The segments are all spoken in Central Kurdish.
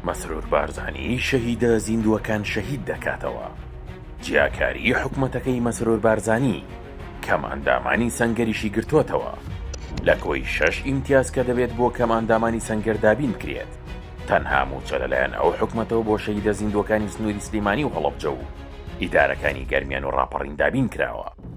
مەسرور بارزانی شەهیدە زیندووەکان شەهید دەکاتەوە. جیاکاریی حکومەتەکەی مەسرور بارزانی کەم ئەندامانی سەنگەریشی گرتۆتەوە. لە کۆی شەش ئیمتیاز کە دەبێت بۆ کەم ئەندامانی سەنگەر دابین بکرێت، تەنها مووچە لەلایەن ئەو حکومەتەوە بۆ شەهیدە زیندووەکانی سنووری سلیمانی و هەڵەبجە و ئیدارەکانی گەرمیان و ڕاپەڕین دابین کراوە.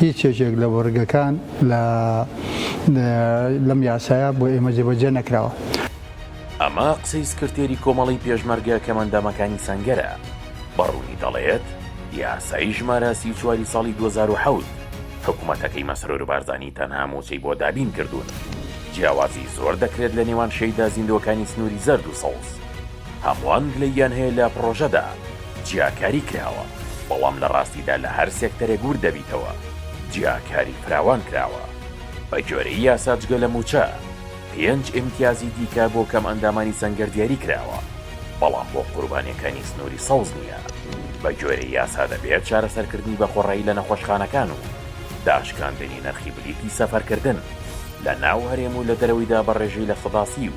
هیچ یەکێک لە بڕگەکان لە لەم یاسایە بۆ ئێمە جێبەجێ نەکراوە. ئەمە قسەی سکرتێری کۆمەڵەی پێشمەرگە کەمئەندامەکانی سەنگەرە، بە ڕوونی دەڵێت، یاسای ژمارە سی و چواری ساڵی دوو هەزار و حەوت حکومەتەکەی مەسرور بارزانی تەنها مووچەی بۆ دابین کردوون، جیاوازی زۆر دەکرێت لە نێوان شەیدا زیندووەکانی سنووری زەرد و سەوز. هەمووان گلەییان هەیە لە پڕۆژەدا جیاکاری کراوە، بەڵام لە ڕاستیدا لە هەر سێکتەرێک ورد دەبیتەوە جیاکاری فراوان کراوە. بە گوێرەی یاسا جگە لە مووچە، پێنج ئیمتیازی دیکە بۆ کەمئەندامانی سەنگەر دیاری کراوە، بەڵام بۆ قوربانییەکانی سنووری سەوز نییە. بە گوێرەی یاسا دەبێت چارەسەرکردنی بە خۆڕایی لە نەخۆشخانەکان و داشکاندنی نرخی بلیتی سەفەرکردن لە ناو هەرێم و لە دەرەوەیدا بە ڕێژەی لە سەدا سی و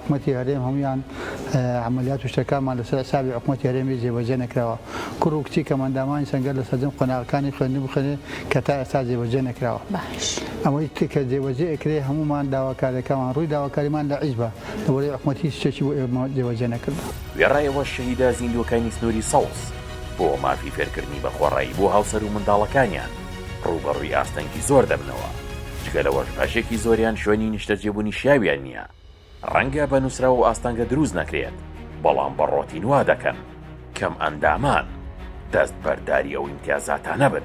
حکومەتی هەرێم هەموویان عەمەلیات و شتەکانمان لەسەر حیسابی حکومەتی هەرێم ی جێبەجێ نەکراوە کوڕ و کچی کەمئەندامانی سەنگەر لە سەرجەم قۆناغەکانی خوێندن بخوێنێ کە تا ئێستا جێبەجێ نەکراوە ئەوەی کە جێبەجێ ئەکرێ هەموومان داواکاریەکانمان ڕووی داواکاریمان لە حیزبە لەوەرەی حکومەت هیچ شتێکی بۆ ئێمە جێبەجێ نەکردوە. وێڕایەوە شەهیدە زیندووەکانی سنووری سەوز بۆ مافی فێرکردنی بە خۆڕایی بۆ هاوسەر و منداڵەکانیان ڕووبەڕووی ئاستەنگی زۆر دەبنەوە، جگە لەوەش بەشێکی زۆریان شوێنی نیشتەجێبوونی شیاویان نییە، ڕەنگە بە نووسراو و ئاستەنگە دروست نەکرێت، بەڵام بە ڕۆتین وا دەکەن کەمئەندامان دەستبەرداری ئەو ئیمتیازاتانە بن.